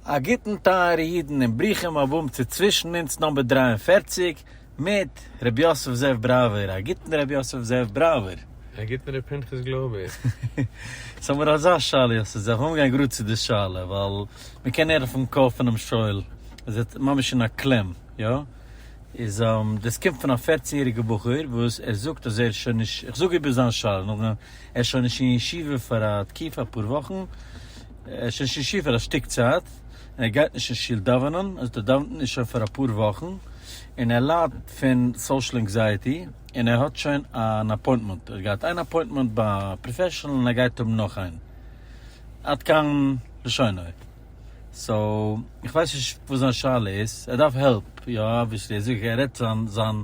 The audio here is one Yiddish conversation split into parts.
א גוטן טייערע אידן און ברוכים הבאים צו צווישן אונז נאמבער דרײַ און פֿערציק מיט ר' יוסף זאב בראווער, א גוטן ר' יוסף זאב בראווער. א גוטן ר' פנחס גלויבער. סאו האמיר אזא שאלה יוסף זאב, לאמיר גיין גראד צו די שאלה ווייל מען קען הערן פון קול פונעם שואל אז ער האט ממש אין א קלעם, יא? איז דאס קומט פון א פֿערצן יעריגע בחור וואס ער זאגט אז ער איז שוין נישט, איך זאג איבער זיין שאלה נאכדעם, ער איז שוין נישט אין ישיבה פאר א תקופה אפאר וואכן, ער איז שוין שישי פאר א שטיק צייט, און ער גייט נישט אין שול דאווענען, זאת אומרת ער דאווענט נישט שוין פאר אפאר וואכן, און ער ליידט פון סאושעל ענקזייעטי, און ער האט שוין אן אפוינטמענט, ער האט געהאט איין אפוינטמענט ביי א פראפעשענעל און ער גייט האבן נאך איין, עד כאן לשונו, סאו איך ווייס נישט וואס זיין שאלה איז, ער דארף העלפ, יא אבוויעסלי, ער זאגט ער רעדט זיין זיין.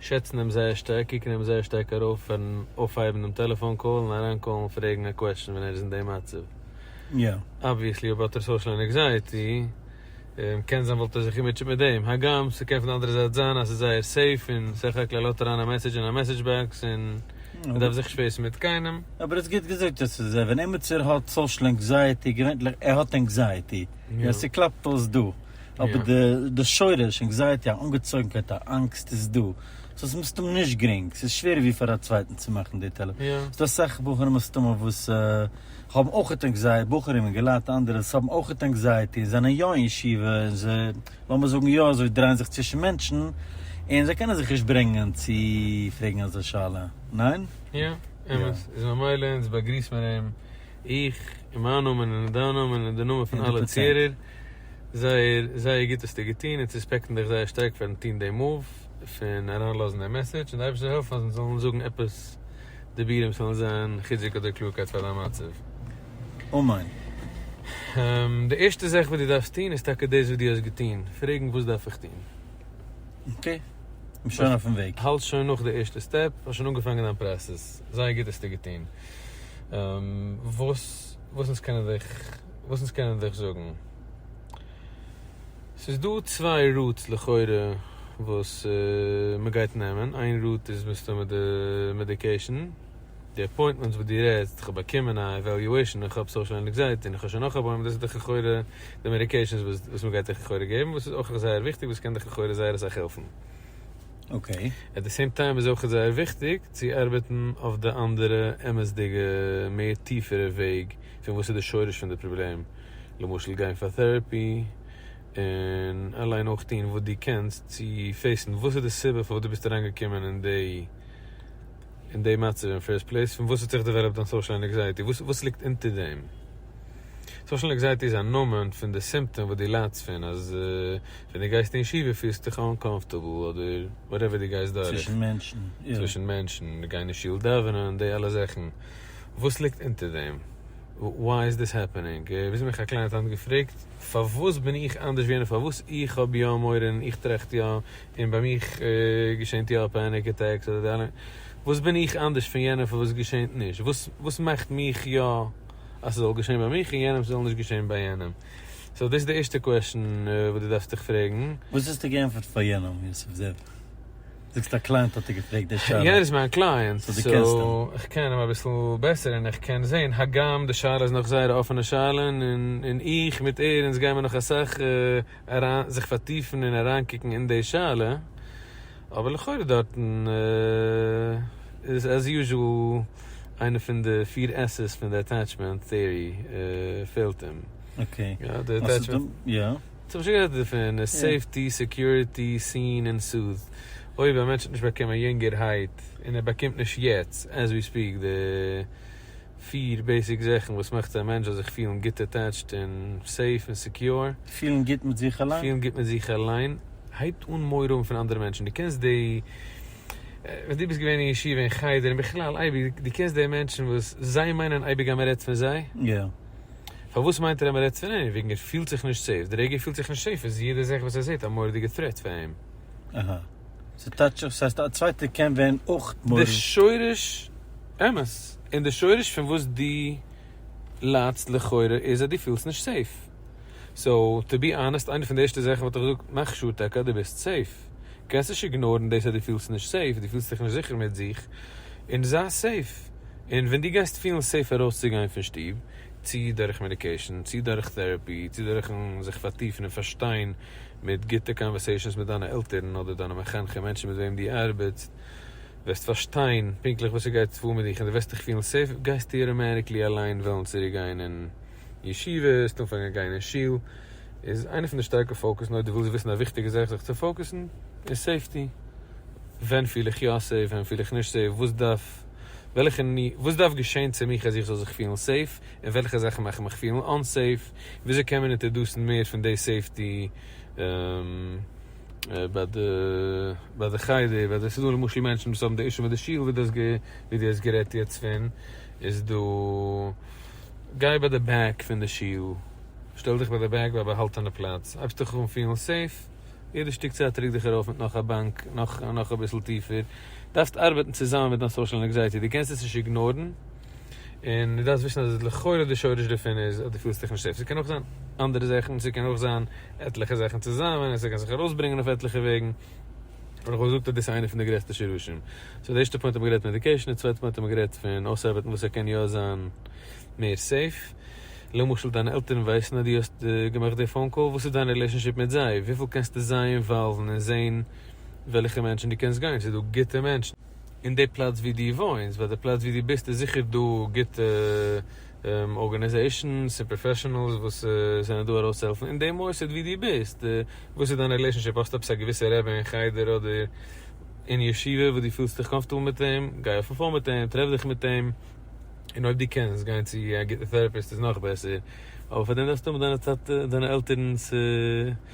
שעצן אים זייער שטארק, קוקן אים זייער שטארק ארויף פארן אויפהייבן דעם טעלעפאן קאל און אריין קאלן און פרעגן א קוועשן ווען ער איז אין די מצב. אבוויעסלי אויב האט ער סאושעל ענעקזייעטי, קען זיין וואלט ער זיך געמוטשעט מיט דעם. הגם ס'קען פון די אנדערע זייט זיין אז ס'איז זייער סעיף און סך הכל ער לאזט אריין א מעסעדזש אין א מעסעדזש באקס און ער דארף זיך נישט פעיסן מיט קיינעם. אבער איז גוט געזאגט אז ס'איז ער. ווען עימיצער האט סאושעל ענקזייעטי, געווענטליך ער האט ענקזייעטי, און ס'קלאפט אויס דא, אבער די די שורש ענקזייעטי א אנגעצויגנקייט א אנגסט איז דא סאו ס'איז מסתמא נישט גרינג ס'איז שווערער ווי פאר א צווייטן צו מאכן די טעלער ס'איז דא אסאך בחורים מסתמא וואס האבן אויכעט ענקזייעטי בחורים און געלייט אנדערע וואס האבן אויכעט ענקזייעטי און זענען יא אין ישיבה און זיי לאמיר זאגן יא אזוי דרייען זיך צווישן מענטשן און זיי קענען זיך נישט ברענגען צו פרעגן אזא שאלה ניין? יא אמת איז ממילא אונז באגריסט מיר אים. איך און מיין נאמען און דיין נאמען און די נאמען פון אלע צוהערער, זייער זייער גוט האסטו געטון, אונז רעספעקטן דיך זייער שטארק פארן טון דעם מאוו פון אריינלאזן דעם מעסעדזש, און די אייבערשטער העלף אז אונז זאלן זאגן עפעס דיבורים וואס וועלן זיין חיזוק אדער קלארקייט פאר דיין מצב. אמן. די ערשטע זאך וואס דו דארפסט טון איז טאקע דאס וואס דו האסט געטון, פרעגן וואס דארף איך טון. אקעי, מ'שוין אויפן וועג. האלט שוין נאך די ערשטע סטעפ, האסט שוין אנגעפאנגען דיין פראסעס, זייער גוט האסטו געטון. וואס וואס אונז קענען דיך וואס אונז קענען דיך זאגן. ס'איז דא צוויי רוטס לכאורה וואס מ'גייט נעמען, איין רוט איז מסתמא די מעדיקעישן, די אפוינטמענטס וואס דו רעדסט, איך האב באקומען א עוועליועישן, איך האב סאושעל ענקזייעטי און איך האב שוין נאך אפוינטמענט, דאס איז דאך לכאורה די מעדיקעישנס וואס מ'גייט דיך לכאורה געבן, וואס איז אויך זייער וויכטיג, וואס קען דיך לכאורה זייער אסאך העלפן. עט די סעים טיים איז אויך זייער וויכטיג צו ארבעטן אויף די אנדערע אמת'דיגע מער טיפערע וועג פון וואס איז די שורש פון די פראבלעם, למשל גיין פאר טעראפי, און אליין אויך טון וואס דו קענסט צו פעיסן וואס איז די סיבה פארוואס דו ביסט אריינגעקומען אין די. אין די מצב אין פירסט פלעיס? פון וואס האט זיך דעוועלאפט דיין סאושעל אנעקזייעטי? וואס ליגט אונטער דעם? סאושעל אנעקזייעטי איז א נאמען פון די סימפטאם וואס דו ליידסט פון, אז ווען דו גייסט אין ישיבה פילסטו דיך אנקאמפארטעבל אדער וואטעווער דו גייסט דורך, צווישן מענטשן, צווישן מענטשן, גיין אין שול דאווענען, די אלע זאכן, וואס ליגט אונטער דעם? וואי איז דאס העפענינג? וויאזוי מיך א קליינט האט געפרעגט, פארוואס בין איך אנדערש ווי יענער? פארוואס איך האב יא מורא און איך טראכט יא און ביי מיך געשענט יא פעניק עטעקס אדער די אלע, וואס בין איך אנדערש פון יענעם פון וואס געשענט נישט? וואס מאכט מיך יא אז ס'זאל געשען ביי מיך און יענעם ס'זאל נישט געשען ביי יענעם? סאו דאס איז די ערשטע קוועשן וואס דו דארפסט דיך פרעגן. וואס האסטו געענטפערט פאר יענעם יוסף זעב? זאגסט א קלייענט האט דיר געפרעגט די שאלה. יענער איז מיין קלייענט, סאו איך קען אים אביסל בעסער און איך קען זען, הגם די שאלה איז נאך זייער א אפענע שאלה און איך מיט ער אונז גיימיר נאך אסאך. אריין זיך פארטיפן און אריינקוקן אין די שאלה, אבער לכאורה דארטן איז עז יוזשעל איינע פון די פיר עס'ס פון די עטעטשמענט טעארי פעלט אים. אקעי. יא די עטעטשמענט. יא. ס'האב שוין גערעדט דערפון. סעיפטי, סעקיוריטי, סין, און סוט'. אויב א מענטש האט נישט באקומען יונגערהייט און ער באקומט נישט יעצט עז ווי ספיעק די. פיר בעיסיק זאכן וואס מאכט א מענטש זאל זיך פילן גוט אטעטשט און סעיף און סעקיור. פילן גוט מיט זיך אליין. פילן גוט מיט זיך אליין, הייבט אן מורא האבן פון אנדערע מענטשן, דו קענסט די, ווען דו ביסט געווען אין ישיבה און חדר און בכלל אייביג, דו קענסט די מענטשן וואס זיי מיינען אייביג אז מען רעדט פון זיי, פארוואס מיינט ער אז מען רעדט פון אים, וועגן ער פילט זיך נישט סעיף, די רגע ער פילט זיך נישט סעיף איז יעדע זאך וואס ער זעט א מורא'דיגע טרעט פאר אים. ס'טייטש אויף ס'הייסט א צווייטער קען ווערן אויך מורי. די שורש, אמת, און די שורש פון וואס דו ליידסט לכאורה איז אז דו פילסט נישט סעיף. סאו, טו בי אנעסט איינע פון די ערשטע זאכן וואלט איך געזאגט מאך שור טאקע אז דו ביסט סעיף. קענסט נישט איגנארן דאס אז דו פילסט נישט סעיף, דו פילסט דיך נישט זיכער מיט זיך, און זיי סעיף. און ווען דו גייסט פילן סעיף ארויסצוגיין פון שטוב, צי דורך מעדיקעישן, צי דורך טעראפי, צי דורכ'ן זיך פארטיפן און פארשטיין מיט גוטע קאנווערסעישאנס מיט דיינע עלטערן אדער דיינע מחנכים מענטשן מיט וועם דו ארבעטסט וועסט פארשטיין פונקטליך וואס ס'גייט פאר מיט דיך און דו וועסט דיך פילן סעיף גייסטו אוטאמעטיקלי אליין וועלן צוריק גיין אין ישיבה וועסט אנפאנגען גיין אין שול איז איינע פון די שטארקע פאוקוס און אויב דו ווילסט וויסן א וויכטיגע זאך זיך צו פאוקוסן איז סעיפטי ווען פיל איך יא סעיף ווען פיל איך נישט סעיף וואס דארף וועלכע ני וואס דארף געשען צו מיך אז איך זאל זיך פילן סעיף. און וועלכע זאכן מאכן מיך פילן אנסעיף, און וויאזוי קען מען אינטערדוסן מער פון די סעיפטי ביי די ביי די חדר, ביי די ס'דא למשל מענטשן וואס האבן די אישו מיט די שול ווי דו האסט גערעדט יעצט פון, איז דא גיי ביי די בעק פון די שול, שטעל דיך ביי די בעק ביי א באהאלטענע פלאץ, הייבסט דיך אן פילן סעיף, יעדע שטיק צייט רוק דיך ארויף מיט נאך א באנק, נאך אביסל טיפער, דארפסט ארבעטן צוזאמען מיט דיין סאושעל ענקזייעטי, דו קענסט עס נישט איגנארן. און דו דארפסט וויסן אז לכאורה די שורש דערפון איז אז דו פילסט דיך נישט סעיף, ס'קען אויך זיין אנדערע זאכן, ס'קען אויך זיין עטליכע זאכן צוזאמען, ס'קען זיך ארויסברענגען אויף עטליכע וועגן, אבער כ'וואלט געזאגט אז דאס איז איינע פון די גרעסטע שרשים. סאו די ערשטע פוינט האבן מיר גערעדט מעדיקעישן, די צווייטע פוינט האבן מיר גערעדט פון אויסארבעטן וואס ער קען יא זיין מער סעיף, למשל דיינע עלטערן ווייסן אז דו האסט געמאכט די פאון קאל, וואס איז דיין רילעישאנשיפ מיט זיי? וויפיל קענסטו זיי אינוואלוון און זען וועלכע מענטשן דו קענסט גיין? ס'איז דא גוטע מענטשן. אין די פלאץ ווי דו וואוינסט, ווייל די פלאץ ווי דו ביסט איז זיכער דא גוטע ארגענעזעישאנס און פראפעשענעלס וואס זענען דא ארויסצוהעלפן, אין די מוסד ווי דו ביסט, וואס איז דיין רילעישאנשיפ, האסטו עפעס א געוויסע רבי אין חדר אדער אין ישיבה וואס דו פילסט דיך קאמפארטעבל מיט אים, גיי אויפן פאון מיט אים, טרעף דיך מיט אים, און אויב דו קענסט גיין צו א גוטע טעראפיסט איז נאך בעסער, אבער פאר דעם דארפסטו האבן דיינע עלטערנס.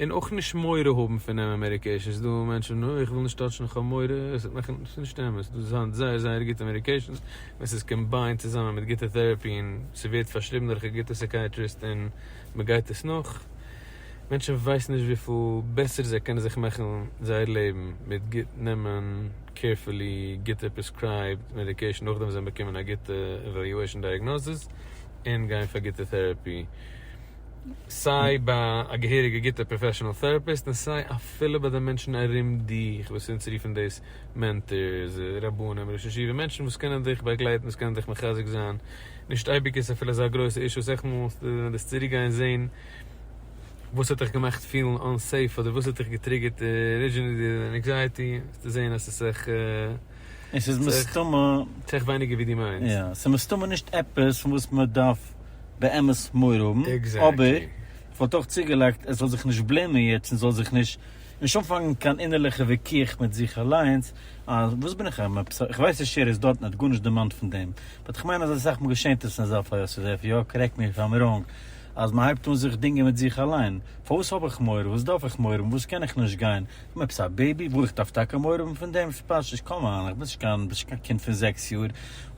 און אויך נישט מורא האבן פון דעם אמעריקעישן, ס'איז דא מענטשן אוי איך וויל נישט טאטשן איך האב מורא, ס'וועט מאכן, ס'איז נישט אמת, ס'איז דא דאס היינט זייער זייער גוטע מעדיקעישאנס, ווען ס'איז קאמביינד צוזאמען מיט גוטע טעראפי און ס'ווערט פארשריבן דורך א גוטע סעקייעטריסט און מ'גייט עס נאך, מענטשן ווייסן נישט וויפיל בעסער זיי קענען זיך מאכן זייער לעבן מיט גוט נעמען קעירפולי גוטע פרעסקרייבד מעדיקעישאן נאכדעם וואס זיי האבן באקומען א גוטע עוועליועישאן דייעגנאזיס און גיין פאר גוטע טעראפי. סיי ביי א געהעריגע גוטע פראפעשענעל טעראפיסט און סיי אפילו ביי די מענטשן ארום דיך וואס אונז רופן דאס מענטארס, רבנים, ראשי ישיבה, מענטשן וואס קענען דיך באגלייטן, וואס קענען דיך מחזק זיין, נישט אייביג איז עס אפילו אזא גרויסע אישו, אסאך מאל ווען דו וועסט צוריק גיין זען וואס האט דיך געמאכט פילן אנסעיף אדער וואס האט דיך געטריגערט ארידזשינעלי די ענקזייעטי וועסטו זען אז עס איז אסאך. און ס'איז מסתמא. צו אויך ווייניגער ווי דו מיינסט. יא, ס'איז מסתמא נישט עפעס פון וואס מען דארף באמת מורא האבן. אבער איך וואלט אויך צוגעלייגט, ער זאל זיך נישט בלעימען יעצט און זאל זיך נישט נישט אנפאנגען קיין אינערליכע וויכוח מיט זיך אליינס אז וואס בין איך אויב עפעס, איך ווייס די שער איז דארטן ער האט גארנישט דערמאנט פון דעם, באט איך מיין אז אסאך מאל געשענט עס אין אזא פאל, יוסי זאב, יא, קארעקט מי איף איים ראנג, אז מען הייבט אן זיך דינגען מיט זיך אליין, פארוואס האב איך מורא, וואס דארף איך מורא האבן, וואס קען איך נישט גיין, און עפעס א בעיבי ברויך דארף טאקע מעורבים פון דעם שפאשש קאמאן איך ביסט קיין ביסט קיין קינד פון זעקס יאר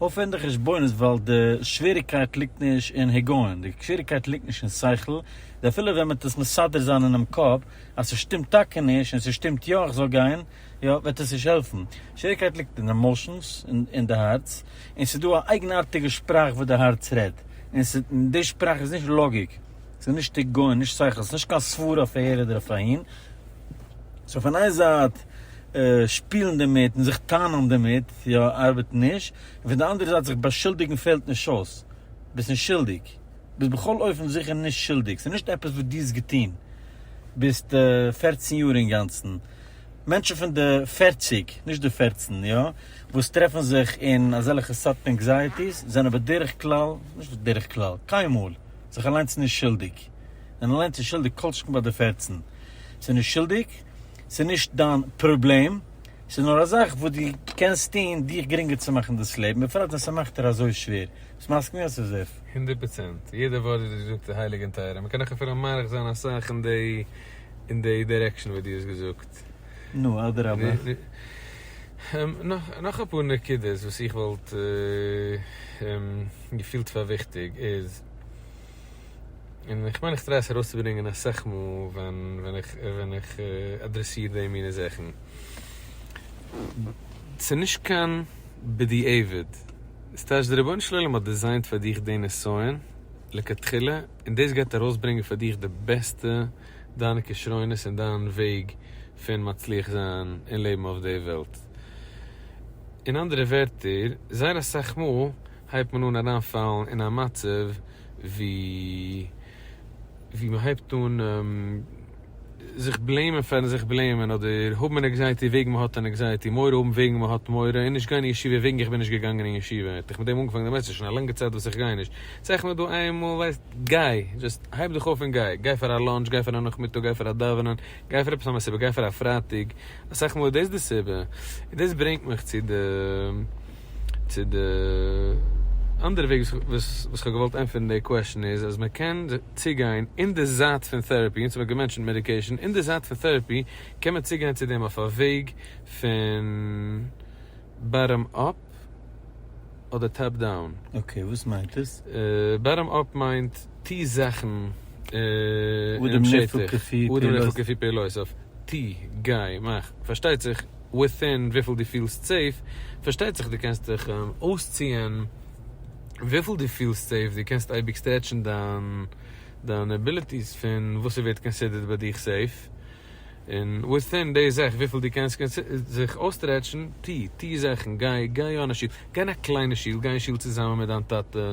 אויף אין די חשבונות ווייל די שוועריקייט ליגט נישט אין היגיון די שוועריקייט ליגט נישט אין שכל די אפילו ווען מ'עט עס מסדר זיין אינעם קאפ אז ס'שטימט טאקע נישט און ס'שטימט יא איך זאל גיין יא וועט עס נישט העלפן שוועריקייט ליגט אין די עמאשענס אין די הארץ און ס'דא א אייגנארטיגע שפראך וואס די הארץ רעדט און ס' און די שפראך איז נישט לאגיק ס'נישט היגיון נישט שכל ס'נישט קיין סברה אויף אהער אדער אויף אהין. סאו פון איין זייט שפילן דערמיט און זיך טענה'ן דערמיט יא ארבעט נישט, און פון די אנדערע זייט זיך באשולדיגן פעלט נישט אויס, ביסט נישט שולדיג, ביסט בכל אופן זיכער נישט שולדיג, ס'איז נישט עפעס וואס דו האסט געטון, ביסט פֿערצן יאר אינגאנצן, מענטשן פון די פֿערציק, נישט די פֿערצן, יא, וואס טרעפן זיך אין אזעלכע סארט ענקזייעטיס זענען בדרך כלל, נישט בדרך כלל, קיינמאל, זיך אליינס נישט שולדיג, זענען אליינס נישט שולדיג כל שכן ביי די פֿערצן. ס'איז נישט שולדיג, ס'איז נישט דיין פראבלעם, ס'איז נאר א זאך וואס דו קענסט טון דיך גרינגער צו מאכן דאס לעבן, בפרט ווען ס'מאכט דיר אזוי שווער. ביסט מסכים יא צו זיף? הונדערט פראצענט, יעדע ווארט וואס דו זאגסט איז הייליג און טייער, און מ'קען נאך אפילו מאריך זיין אסאך אין די אין די דירעקשאן וואס דו האסט געזאגט. נו, אדרבה. נאך אפאר נקודות וואס איך וואלט געפילט פאר וויכטיג איז. און איך מיין איך טריי עס ארויסצוברענגען אסאך מאל ווען איך אדרעסיר די מיני זאכן. ס'איז נישט קיין בדיעבד, ס'איז טייטש דער רבונו של עולם האט דיזיינט פאר דיך די נסיון לכתחילה און דאס גייט ארויסברענגען פאר דיך די בעסטע דיינע כשרונות און דיין וועג פון מצליח זיין און לעבן אויף די וועלט. אין אנדערע ווערטער, זייער אסאך מאל. הייבט מען אן אריינפאלן אין א מצב ווי ווי מען הייבט אן זיך בלעימען פארן זיך בלעימען אדער האבן ענקזייעטי וועגן מען האט ענקזייעטי מורא האבן וועגן מען האט מורא און נישט גיין אין ישיבה וועגן איך בין נישט געגאנגען אין ישיבה האט איך מיט דעם אנגעפאנגען דערמאנסט ס'איז שוין א לאנגע צייט וואס איך גיי נישט צייכן מיר דא איינמאל ווייסט גיי דזשאסט הייב דיך אויף און גיי גיי פאר א לאנטש גיי פאר א נאכמיטאג גיי פאר א דאווענען גיי פאר עפעס אנדערע סיבה גיי פאר א פרייטאג אסאך מאל איז דאס די סיבה און דאס ברענגט מיך צו די. צו די אנדערע וועג וואס איך האב געוואלט ענטפערן די קוועשאן איז אז מען קען צוגיין אין די זייט פון טעראפי, אונז האב געמענטשענט מעדיקעישאן, אין די זייט פון טעראפי קען מען צוגיין צו דעם אויף א וועג פון באטאם אפ אדער טאפ דאון. אקעי וואס מיינט עס? באטאם אפ מיינט טו זאכן אין דעם שטח, אדם נהפוך כפי פעולותיו, טו גיי מאך, פארשטייט זיך. וויטין וויפיל דו פילסט סעיף, פארשטייט זיך דו קענסט דיך אויסציען וויפיל דו פילסט סעיף, דו קענסט אייביג סטרעטשן דיין עביליטיס פון וואס ס'ווערט קאנסידערט ביי דיך סעיף, און וויטין די זאך וויפיל דו קענסט זיך אויסטרעטשן, טו, טו זאכן, גיי, גיי אן א שול, גיי אין א קליינע שול, גיי אין שול צוזאמען מיט דיין טאטע,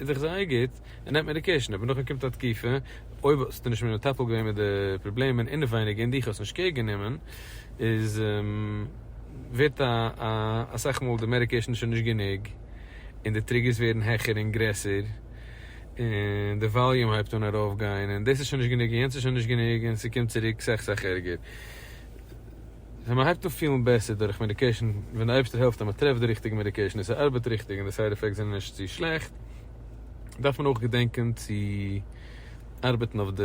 איז זיך זייער גוט, ער נעמט מעדיקעישן, אבער נאכדעם קומט א תקופה, אויב האסטו נישט מער מטפל געווען מיט די פראבלעמען אינעווייניג און דיך האסט נישט קעיר גענומען, איז ווערט א אסאך מאל די מעדיקעישן שוין נישט גענוג, און די טריגערס ווערן העכער און גרעסער, און די וואליום הייבט אן ארויפגיין, און דאס איז שוין נישט גענוג און יענץ איז שוין נישט גענוג, און ס'קומט צוריק סאך סאך ערגער. ווען מען הייבט אן פילן בעסער דורך מעדיקעישן, ווען די אייבערשטער העלפט אז מען טרעפט די ריכטיגע מעדיקעישן און ס'ארבעט ריכטיג און די סייד עפעקטס זענען נישט צו שלעכט, דארף מען אויך געדענקען צו ארבעטן אויף די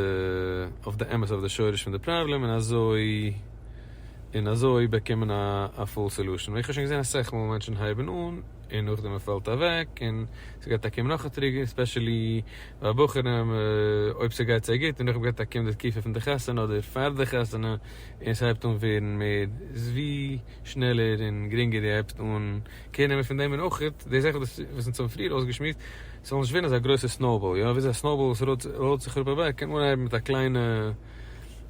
אויף די אמת אויף די שורש פון די פראבלעם און אזוי און אזוי באקומען א א פול סעלושען, ווי איך האב שוין געזען אסאך מאל מענטשן הייבן אן און נאכדעם מען פאלט אוועק און ס'גייט אקעגן נאך א טריגער, ספעשעלי ביי בחורים אויב ס'גייט זיי גוט און נאכדעם גייט אקעגן די תקופה פון די חתונה אדער פאר די חתונה. און ס'הייבט אן ווערן מער ווי שנעלער און גרינגער די הייבסט אן קער נעמען פון דעם און אויך די זאך וואס וואס אונז האבן פריער אויסגעשמועסט ס'זאל נישט ווערן אזא גרויסע סנאובאל יא וויאזוי א סנאובאל וואס ראלט זיך אראפ אוועק קען אנהייבן מיט א קליינע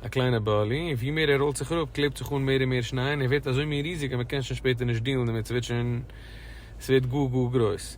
א קליינע באלי און ווי מער ער ראלט זיך אראפ קלעבט זיך אן מער און מער שניי און ער ווערט אזוי מין ריזיג אז מ'קען שוין שפעטער נישט דילן דערמיט ס'ווערט שוין ס'ווערט גאר גאר גרויס.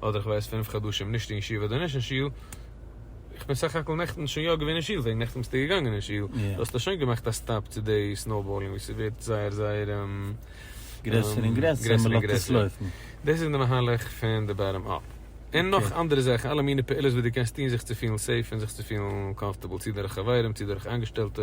אדער איך ווייס פינף חדשים נישט אין שול אדער נישט אין שול, איך בין סך הכל נעכטן שוין יא געווען אין שול וועגן נעכטן ביסטו געגאנגען אין שול, דו האסט שוין געמאכט א סטאפ צו די סנאובאלינג וואס ס'ווערט זייער זייער גרעסער און גרעסער און מ'לאזט עס לויפן. דאס איז די מהלך פון די באטאם אפ. און נאך אנדערע זאכן, אלע מיני פעולות וואס דו קענסט טון זיך צו פילן סעיף און זיך צו פילן קאמפארטעבל, צו דורך חברים, צו דורך איינגעשטעלטע,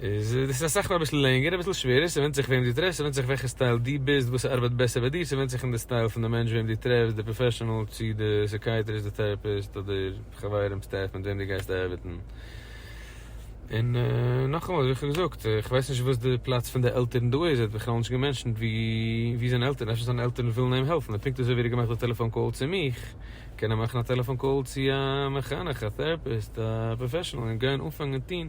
איז דאס אסאך מאל אביסל לענגער אביסל שווערער, ס'ווענדט זיך וועם דו טרעפסט, ס'ווענדט זיך וועלכע סטייל דו ביסט, וואס ארבייט בעסער ביי דיר, ס'ווענדט זיך אין די סטייל פון די מענטש וועם דו טרעפסט, די פראפעשענעל צו די סיקייעטריסט, די טעראפיסט אדער חברים, סטעף מיט וועם דו גייסט ארבעטן. און נאכאמאל ווי איך האב געזאגט, איך ווייס נישט וואס די פלאץ פון די עלטערן דא איז, ער האט בכלל נישט געמענשענט וואו זיינע עלטערן, אפשר זיינע עלטערן ווילן אים העלפן, און פונקט אזוי ווי ער האט געמאכט א טעלעפאן קאל צו מיך, קען ער מאכן א טעלעפאן קאל צו א מחנך, א טעראפיסט, א פראפעשענעל און גיין אנפאנגען טון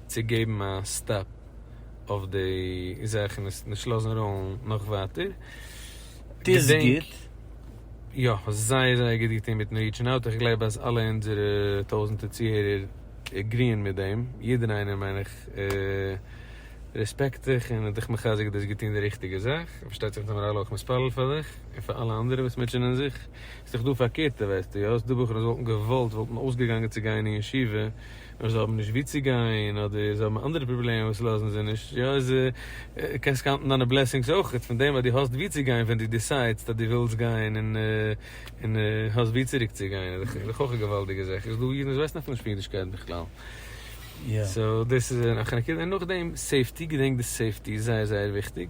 צו געבן א סטאפ אויף די זאך און עס נישט לאזן ראלן נאך ווייטער. דאס איז גוט. יא, זייער זייער גוט געטון מיטן ריעטשן אוט, איך גלייב אז אלע אונזערע טויזענטער צוהערער עגריען מיט דעם, יעדער איינער מיין איך רעספעקט דיך און האט דיך מחזק דאס געטון די ריכטיגע זאך, און פארשטייט זיך נארמאל אויך מתפלל פאר דיך און פאר אלע אנדערע וואס מוטשענען זיך, ס'איז דאך דא פארקערטע ווייסטו יא, ס'איז דא בחורים וואס וואלטן געוואלט וואלטן אויסגעגאנגען צו גיין אין ישיבה, און זיי האבן נישט וואו צו גיין אדער זיי האבן אנדערע פראבלעמען וואס לאזן זיי נישט יא איז קענסט קאונטן דיינע בלעסינגס אויכעט פון דעם אז דו האסט וואו צו גיין ווען דו דיסיידסט אז דו ווילסט גיין און און האסט וואו צוריק צו גיין איז דאך אויך א געוואלדיגע זאך איז דא אידן וואס ווייסן אפילו נישט פון אידישקייט בכלל סאו דאס איז נאכדעם סעיפטי געדענק די סעיפטי איז זייער זייער וויכטיג.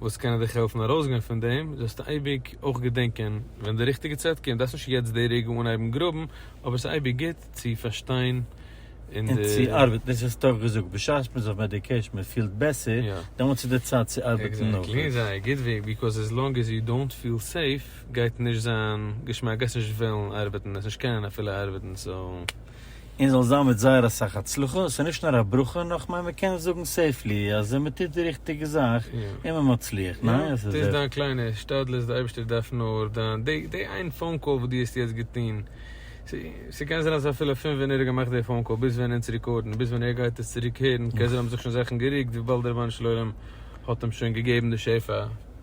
וואס קענען דיך העלפן ארויסגיין פון דעם, זאלסטו אייביג אויך געדענקען ווען די ריכטיגע צייט קומט, דארפסט נישט יעצט די רגע אנהייבן גראבן, אבער עס איז אייביג גוט צו פארשטיין און צו די. ארבעטן, דאס האסטו אויך געזאגט, בשעת מען איז אויף מעדיקעישן, מען פילט בעסער, דעמאלטס איז די צייט צו ארבעטן נאך גוט. עקזעקטלי, זיי גוט וועגן, ביקאוז עס לאנג עז יו דאונט פיל סעיף גייט נישט זיין געשמאק, גייסט נישט וועלן ארבעטן, עס נישט קענען אפילו ארבעטן, סאו. און זאל זיין מיט זייער אסאך הצלחה, עס איז נישט נאר א ברכה נאך כ'מיין מען קען זאגן סעיפלי אז מען טוט די ריכטיגע זאך איז מען מצליח, ניין? יא, דאס דיין קליינע השתדלות, די אייבערשטער דארף נאר דיין, די די איין פאון קאל וואס דו האסט יעצט געטון, ס'קען זיין אז אפילו פון ווען ער האט געמאכט די פאון קאל ביז ווען אונז רעקארדן, ביז ווען ער גייט עס צוריק הערן, קען זיין האבן זיך שוין זאכן גערוקט וויבאלד רבונו של עולם האט אים שוין געגעבן די שפע.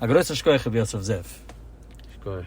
א גרויסן שקויעך רבי יוסף זאב. שקויעך.